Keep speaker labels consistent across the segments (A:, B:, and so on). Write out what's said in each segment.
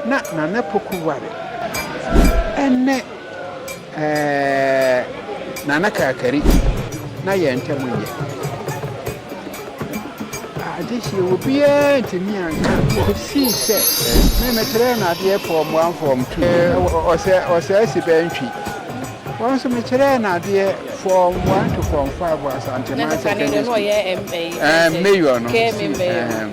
A: Na Nana Poku ware ne Nana Kakari na yɛn ntam nyɛ adehyeɛ. Obiara ntumi anka kɔsii sɛ me mekyerɛɛ no adeɛ fɔɔm one fɔɔm two ɔsɛ ɔsɛ asi bɛntwi wɔn nso mekyerɛɛ no adeɛ fɔɔm one to fɔɔm five wɔ Asantema secondary school
B: mayor
A: no si ɛɛm.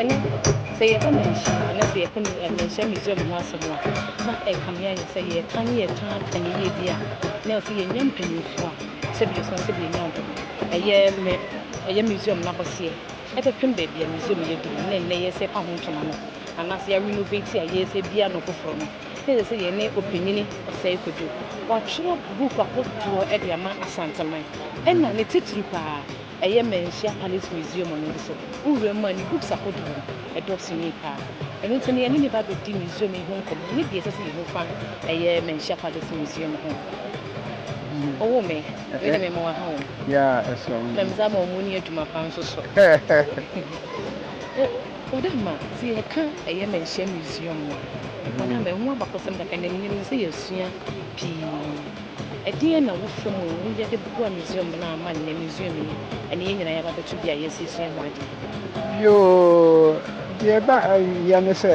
B: Ɛnnɛ, sɛ yɛka mmarahyɛ mu anaasɛ yɛka mmarahyɛ Misraim ho asɛm a, na ɛkame ayɛ sɛ yɛreka ne yɛtaa aka ne yie bi a na ɛwɔ sɛ yɛnya mpanimfoɔ a sɛdeɛ yɛsua sɛ yɛnya wɔn no, ɛyɛ me, ɛyɛ Misraim no akɔseɛ. Ɛbɛpem baabi a Misraim yɛ duru ne nnɛ yɛresa ɛpa ho ntoma no, anaasɛ yɛ renovate a yɛresa bia no foforɔ no, na ɛsɛ sɛ yɛne Ɔpanyini Osei Kwadwo, watwerɛ book ahodoɔ de ama Asanteman, ɛna ne titire paa, Ɛyɛ Manhyia Palace Museum no nso, wo wura mu a ne books ahodoɔ no, ɛdɔɔso yie pa ara. Ɛno nti no, yɛne no ba bɛdi museum yi ho nkɔmmɔ ne deɛ ɛsɛ sɛ yɛhu fa ɛyɛ Manhyia Palace Museum ho. Ɔwoo me, me de me mmoa ha o.
A: Na me nsa ama ɔmo ni adwuma
B: pa nso so. Ɔdama, sɛ yɛka ɛyɛ Manhyia Museum no a, Ɔdama, ɛho abakɔsɛm kakra, na menim sɛ yɛasua pii. Ɛdeɛn na wofa
A: mu a woyɛ de boa Misraim no ama nnɛ Misraimni ne yɛn nyinaa yɛaba abɛto bea a yɛasiesie ho adeɛ? Yoo, deɛ ɛba yɛ ne sɛ,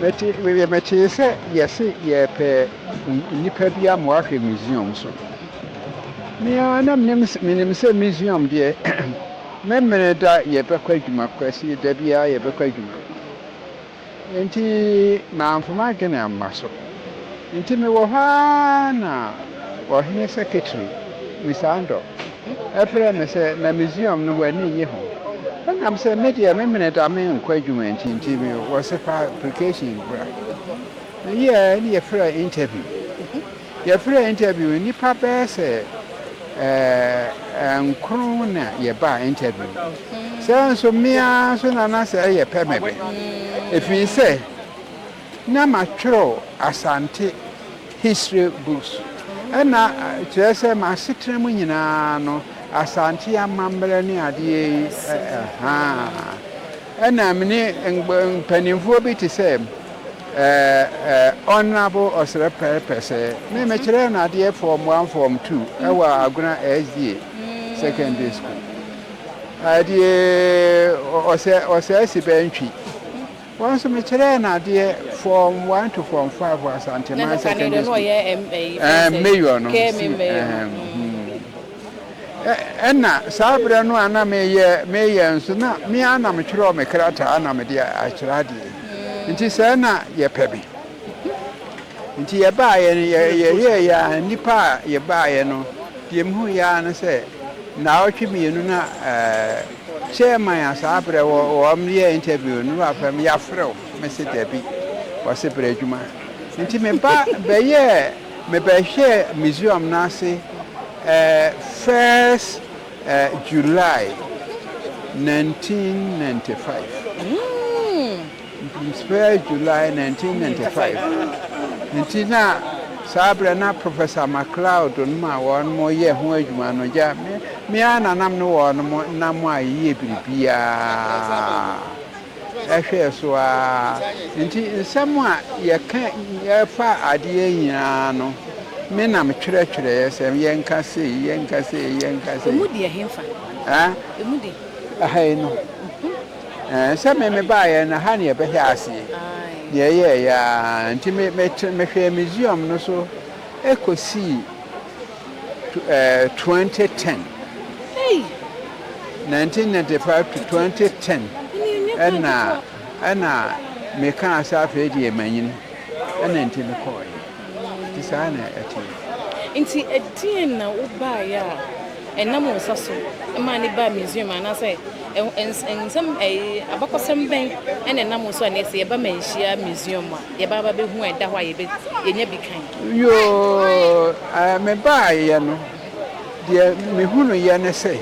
A: mete, metee sɛ yɛse yɛrepɛ nnipa bi ama wɔahwɛ Misraim so. Me ara na menim, menim sɛ Misraim deɛ, Memeneda yɛbɛkɔ adwuma, Kwasi, da biara yɛbɛkɔ adwuma. Enti mamfa m'adwene amma so. Enti mewɔ hɔ ara na ɔhene seketeri, Nisandor, frɛɛ me sɛ, Na Museum no, w'ani nnye ho? Ɛnam sɛ me deɛ me mene da menkɔ adwuma nti nti mewɔ sɛ fa application bra. Meyɛɛ na yɛfrɛɛ interview. Yɛfrɛɛ interview no nnipa bɛyɛ sɛ nkron na yɛbaa interview. Saa nso me ara nso na na sɛ ɛyɛ pɛ mɛ bɛ. Ɛfiri sɛ na matwerɛ Asante history books. Ɛna kyerɛ sɛ m'asetena mu nyinaa no Asante amammerɛ ne adeɛ yi. Ɛna me ne mpanimfoɔ bi te sɛ Honourable Ɔsrɛ Pɛr Pɛsɛɛ, me mekyerɛɛ no adeɛ Form One Form Two wɔ Agona SDA Secondary School. Adeɛ ɔsɛ ɔsɛ asi bɛɛ ntwi. Wɔn nso mekyerɛɛ no adeɛ Form One to Form Five wɔ Asanteman Secondary School. Ɛɛ mayor no si ɛɛ. Ɛnna saa berɛ no a na mereyɛ mereyɛ nso, na me ara na metwerɛɛ me krataa na mede akyerɛ adeɛ yi. Nti sɛɛ na yɛpɛ me. Nti yɛbaeɛ no, yɛyɛeɛ ara, nnipa a yɛbaeɛ no, deɛ mehuiɛ ara ne sɛ, nnawɔtwe mmienu na chairman a saa berɛ wɔyɛɛ interview no wafrɛ me, yɛafrɛ wo? Mese dabi, ɔse brɛ adwuma. Nti meba bɛyɛɛ. Mebɛhwɛɛ museum no ase ɛɛ first ɛɛ July nineteen ninety five. First July nineteen ninety five. Nti na saa berɛ na Professor McLeod nom a wɔn yɛ ho adwuma no gya me ara na nam ne wɔn nam a yɛyɛ biribiara. hwɛɛ so ara. Enti nsɛm a yɛka fa adeɛ nyinaa no, me na metwerɛtwerɛeɛ sɛ yɛnka sei, yɛnka sei, yɛnka sei. Ɛmu
B: de ɛhefa? Haa? Ɛmu de? Ɛha yi
A: no. Ɛɛ, sɛ me mebaeɛ no, ha na yɛbɛhyɛ aseɛ. Deɛ ɛyɛeɛ ara nti, mehwɛɛ museum no so kɔsii. 2010, 1995 to 2010 ɛna ɛna mekaa sɛ afei deɛ manyini ɛna nti mekɔɔeɛ nti saa na ɛteɛ. Nti
B: ɛdeɛn na wobaeɛ a ɛnam wo nsa so maa ne baa Misraim anaasɛ nsɛm abakɔsɛm bɛn ɛna ɛnam wo so a na ɛsɛ yɛba manhyia Misraim a? Yɛba ba bɛhu a ɛda
A: hɔ a yɛbɛ yɛnya bi kan. Yoo eh, me baayɛ no deɛ me hunuyɛ ne sɛ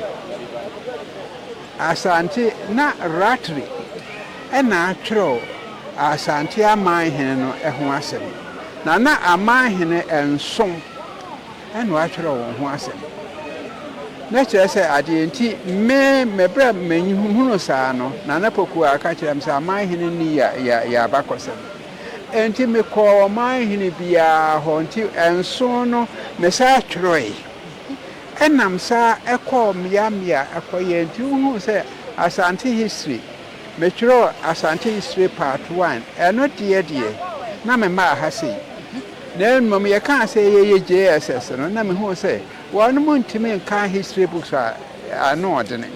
A: Asante na Rattray na atwerɛw Asante Amanhene no ho asɛm na na Amanhene nso na wɔatwerɛ wɔn ho asɛm. Na kyerɛ sɛ, adeɛ nti, me, mɛberɛ a mehunuu saa no, Nana Pokuaa ka kyerɛɛ me sɛ, Aman hene no yɛ, yɛ, yɛ abakɔsɛm. Enti mekɔɔ ɔman hene biara hɔ, nti nson no, mesan twerɛɛe. Ɛnam saa kɔɔ mmea mmea kɔeɛ nti, wohuu sɛ Asante History, metwerɛɛ Asante History Part One, ɛno deɛ deɛ, na memmaa ha sei. Na mmom yɛkaa sɛ yɛyɛ JSS no na mehuu sɛ wɔnom ntumi nkan history books a ano ɔdene.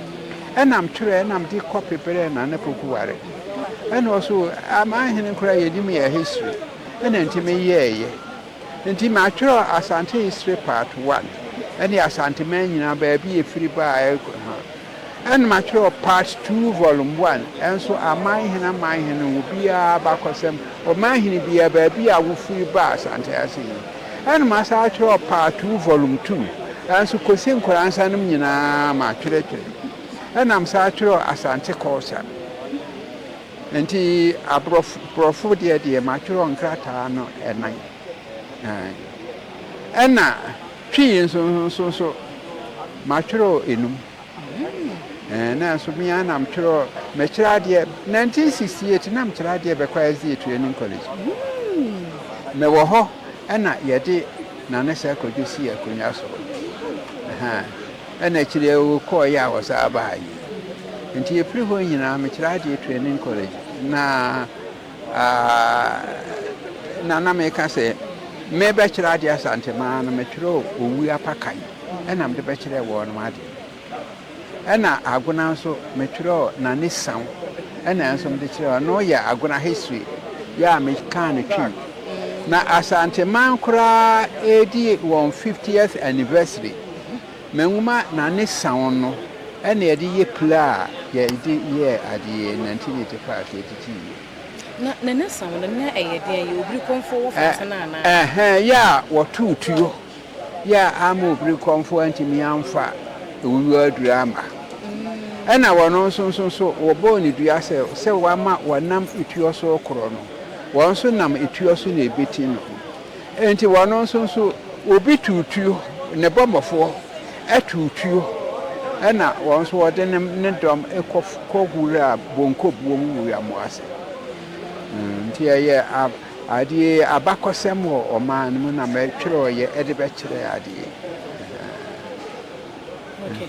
A: Ɛna mtwerɛɛ na mde copy brɛɛ Nana Poku Ware. Ɛna ɔso aman hene koraa yɛnim yɛ history. Ɛna nti meyɛɛyɛ. Nti matwerɛ Asante history part one ɛne Asanteman nyinaa baabi yɛfiri baaɛ. Ɛna matwerɛ Part Two Volume One nso, Amanhene Amanhene wɔ biara abakɔsɛm, Ɔmanhene biara, baabi a wofiri baa Asante ase yi. Ɛna masan atwerɛ Part Two Volume Two nso, Kosi Nkoransa nom nyinaa matwerɛtwerɛ. Ɛna mesan atwerɛ Asante Culture. Nti aborɔfo borɔfo deɛ deɛ matwerɛ nkrataa no ɛnan. Ɛna. Twi yi nso nso nso, matwerɛ enum. Ɛɛ, nanso me ara na metwerɛ, mekyerɛ adeɛ. 1968 na mekyerɛ adeɛ bɛkɔ SDA Training College. Mewɔ hɔ ɛna yɛde Nana Sir Kojo sii akonnwa so. Ɛna akyire yi ɔkɔeɛ a ɔsan baeɛ. Nti ɛfiri hɔ nyinaa mekyerɛ adeɛ Training College na. Aah na na meka sɛ mebɛkyerɛ adeɛ Asante maa no metwerɛɛ owuo apakan ɛna mede bɛkyerɛɛ wɔnom adeɛ ɛna Agona nso metwerɛɛ Nane Saw ɛna nso mede kyerɛɛ wɔn ɔno yɛ Agona history yɛ a mekaa no twim na Asante man koraa ɛredi wɔn 50th anniversary Me nwoma na ne saɔn no na yɛde yɛ pila a yɛde yɛɛ adeɛ na nti na ɛte faa sɛ ɛtiti yie. Na na ne saɔn no na ɛyɛ den a yɛ obirikɔmfoɔ
B: wɔ fa ase no anaa? Ɛhɛɛ, yɛ a wɔtoo
A: tuo, yɛ a amma obirikɔmfoɔ antumi amfa owuo aduro amma. Ɛna wɔn nso nso nso wɔbɔɔ no dua sɛ sɛ wɔama wɔnam etuo so rekorɔ no, wɔn nso nam etuo so na ɛbɛti no. Enti wɔno nso nso obi tuo tuo, ne bɔmmɔfoɔ tuo tuo, ɛna wɔn nso wɔde ne, ne dɔm kɔ, kɔ wura bonkobuo mu wura mu ase. Mm, nti ɛyɛ ab, adeɛ abakɔsɛm wɔ ɔman no mu na mɛtwerɛeɛ de bɛkyerɛ adeɛ. Okay.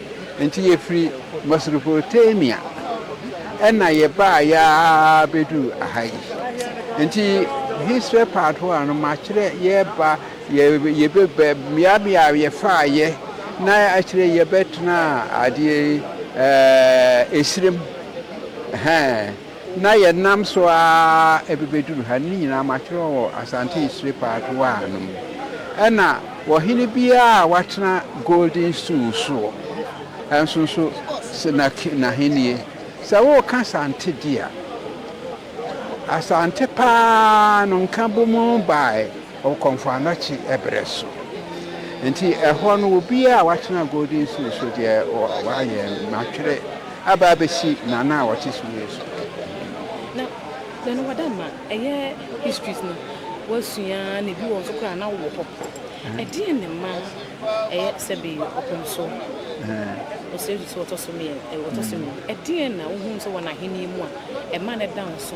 A: Enti yɛfiri Mesopotamia na yɛbaeɛ ara bɛduruu ha yi. Enti history part hɔ a no makyerɛ yɛba yɛbɛba mmeammea a yɛfaaeɛ na akyire yɛbɛtenaa adeɛ ɛɛ esirem ɛhɛn. Na yɛnam so ara ɛbɛbɛduru ha. Ne nyinaa matwerɛ wɔ Asante Isire Part I no mu. Ɛna wɔ hene biara a watena Golden Stool soɔ nso nso n'ahennie. Sɛ woreka Asante deɛ a, Asante pa ara no Nkabom baeɛ wɔ Kɔmfo Anokye ɛberɛ so. Nti ɛhɔ no obiara a watena Golden Stool so deɛ wayɛ matwerɛ. Aba abɛsi Nana a ɔte soro yi so. Na
B: deɛ no wada ma ɛyɛ histories no wasua na ebi wɔ nso koraa na wowɔ hɔ. Ɛdeɛn na ɛma ɛyɛ sɛ be ɔpem so ɔsrɛ bi sɛ ɔtɔ so mmienu, ɛdeɛn na wohunu sɛ wɔ n'ahennie mu a ɛma no da nso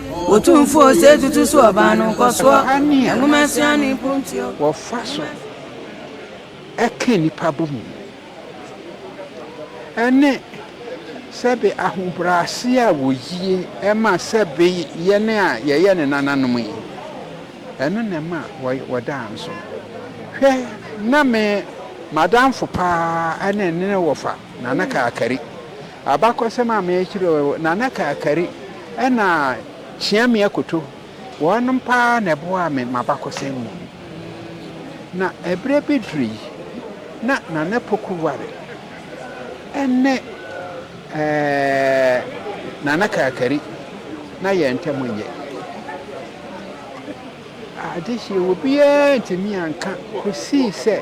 C: Otumfoɔ ose tutu so ɔbaa no nkɔsoɔ, nwoma asua no mpuntuo. Wɔfa
A: so
C: ka nnipa
A: bɔ mu ne sɛbe ahobrɛase a wɔyie ma sɛbe yɛn a yɛyɛ ne nananom yi, ɛno na ɛma wɔdaa nso. Hwɛ, na me m'adamfo paa ne ne ne wɔfa, Nana Kaakari, Abakɔsɛm a merekyerɛw yi, Nana Kakari na Kyeame Akoto, wɔnom paa na ɛboaa me m'abakɔsɛm mu. Na ɛberɛ bi duru yi, na Nana Poku ware ne Nana Kakari, na yɛn ntam nyɛ. Adehye wɔ biara antumi anka kosii sɛ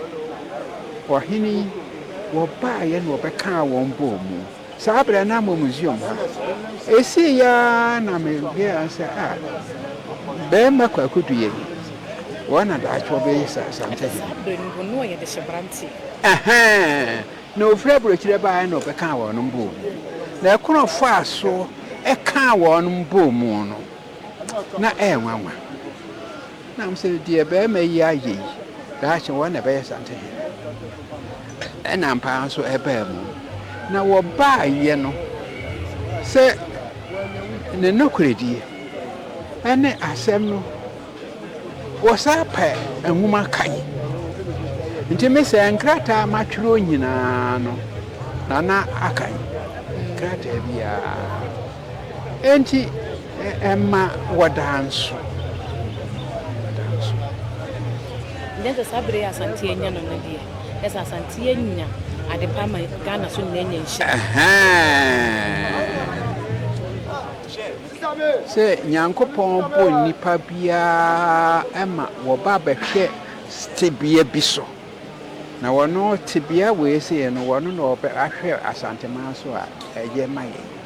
A: ɔhene yi wɔbaeɛ na wɔbɛkaa wɔn bɔɔ mu. Saa berɛ no na mewɔ museum ha. Ɛsiiɛ ara na me realize sɛ a bɛrima Kwaku Duye no wɔn na daakye wɔbɛyɛ sɛ Asante hene. Saa berɛ no wɔn na wɔyɛ
B: dehyeberanteɛ. Ɛhɛɛn,
A: na ɔfiri aburokyire baeɛ na ɔbɛkaa wɔn bɔɔ mu. Na ɛkwan a ɔfaa so kaa wɔn bɔɔ mu no. na ɛyɛ nwanwa. Na ɔmo sɛ, deɛ bɛɛma yi ayɛ yi, daakye wɔn na ɛbɛyɛ Asante hene. Ɛna ampa ara nso ɛbaa mu. Na wɔbaayɛ no, sɛ ne nokorɛdie ɛne asɛm no, wɔsaa pɛ nwoma kan. Nti me sɛ nkrataa matwerɛ nyinaa no, Nana akan krataa biara. Enti ɛmma wɔdaa nso. Nyɛ sɛ saa bere yi a Asante anya no no
B: deɛ, nyɛ sɛ Asante anya ade pa ama Ghana so nyinaa anya nhyira. Ɛhɛɛɛɛ!
A: Sɛ Nyankopɔn bɔ nnipa biara ma wɔba bɛhwɛ tebea bi so, na wɔno tebea wei sei no, wɔno na wɔbɛ ahwɛ Asanteman so a, ɛyɛ ma yɛn.